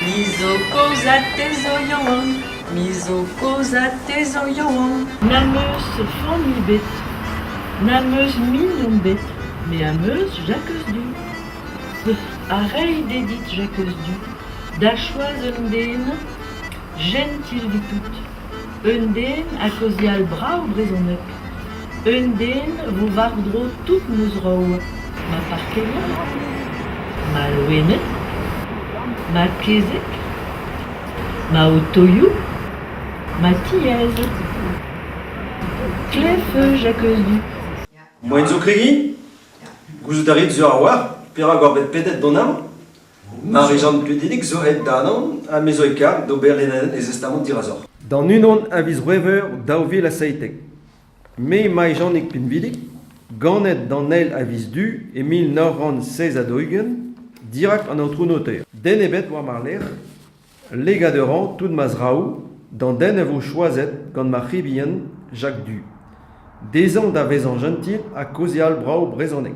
Me zo kaoz ha te zo yaouank, me zo kaoz ha te zo yaouank. N'am eus familh ebet, n'am eus mignon ebet, me am eus Jacques Du. Ha reiñ d'he dit Jacques Du da choaz un den Jentil dit-out, eun den a kaozeal brao brezoneg, eun den vo war-dro tout ma zraou, ma parkerion bremañ, ma loened, ma kezeg, ma otoioù, ma tiez. Klev-feuz ha keuz du. Moaien zo kregiñ ? Gouzout a rit sur a-walc'h perak oc'h bet pedet d'an hañv ? Marie-Jeanne Pledic zo aet d'Anan ha me zo e karg d'ober e zestamant dirazoc'h. D'an unan a viz C'hwevrer daou vil ha seitek. Me, Mae-Janig Pinvidik, ganet d'an eil a viz du e mil nav c'hant seiz ha daou-ugent, dirak an aotrou noter. Den ebet war ma lerc'h, legad a ran tout ma zraoù d'an den a vo choazet gant ma c'hibien Jacques Du. Dezhañ da vezañ jentil ha kaozeal brav brezhoneg.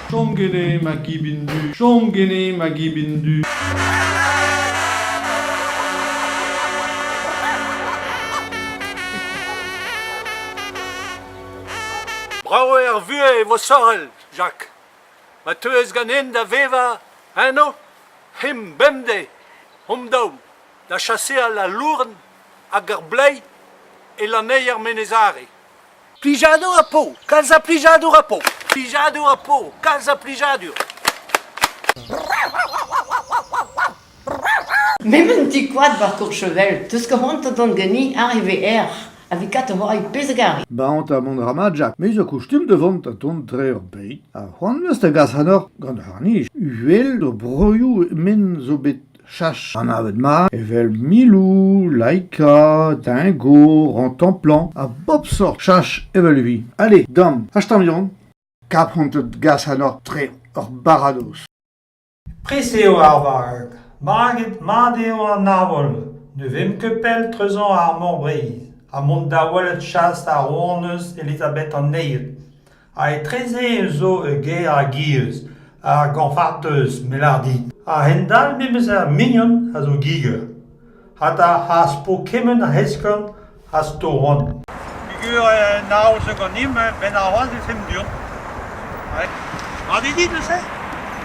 Chom ganin makibin du, chom ganin makibin du. Brav eo ar vuhez e vo sorel, Jacques. Ma teuez ganin da vevañ eno, him bemdez, hom daou, da chaseal al lourn hag ar bleiz e lanneier Menezare. Plijadur ha po, kalz a plijadur ha po. Plijadur ha po, kalz a plijadur. M'emaint ti koad war Courchevel, teus karantet gant gani arrivé er, avec kat oa e pezh a gari. Baon ta mont ramadjak, me zo kustum da vont tont tre ur pays. Ha c'hoant meus da gas hanor gant harnij. Uhel d'o broioù men zo bet Cheñch anavet mat evel miloù, laika, dingo, rantañ-plañ ha bep sort cheñch evel evit. Allez, dam, hastañ vihan. Kapranted gas anoc'h tre ur baradoz. Pres eo ar vag. Maget mat eo an aval. Ne vemp ket pell treuzañ ar Mor Breizh ha mont da welet chas ar rouanez Elizabeth an Neil. Ha etreze ez zo ur gêr a gizh, ar Goñfarteuz, me lâr dit. A-hend-all memes ar mignon a zo giger. Hata az po kement a eskern az to c'hoant. Pigur en aoz ganin, benn arc'hoazh e femp du-hont. Mat eo dit neuze ?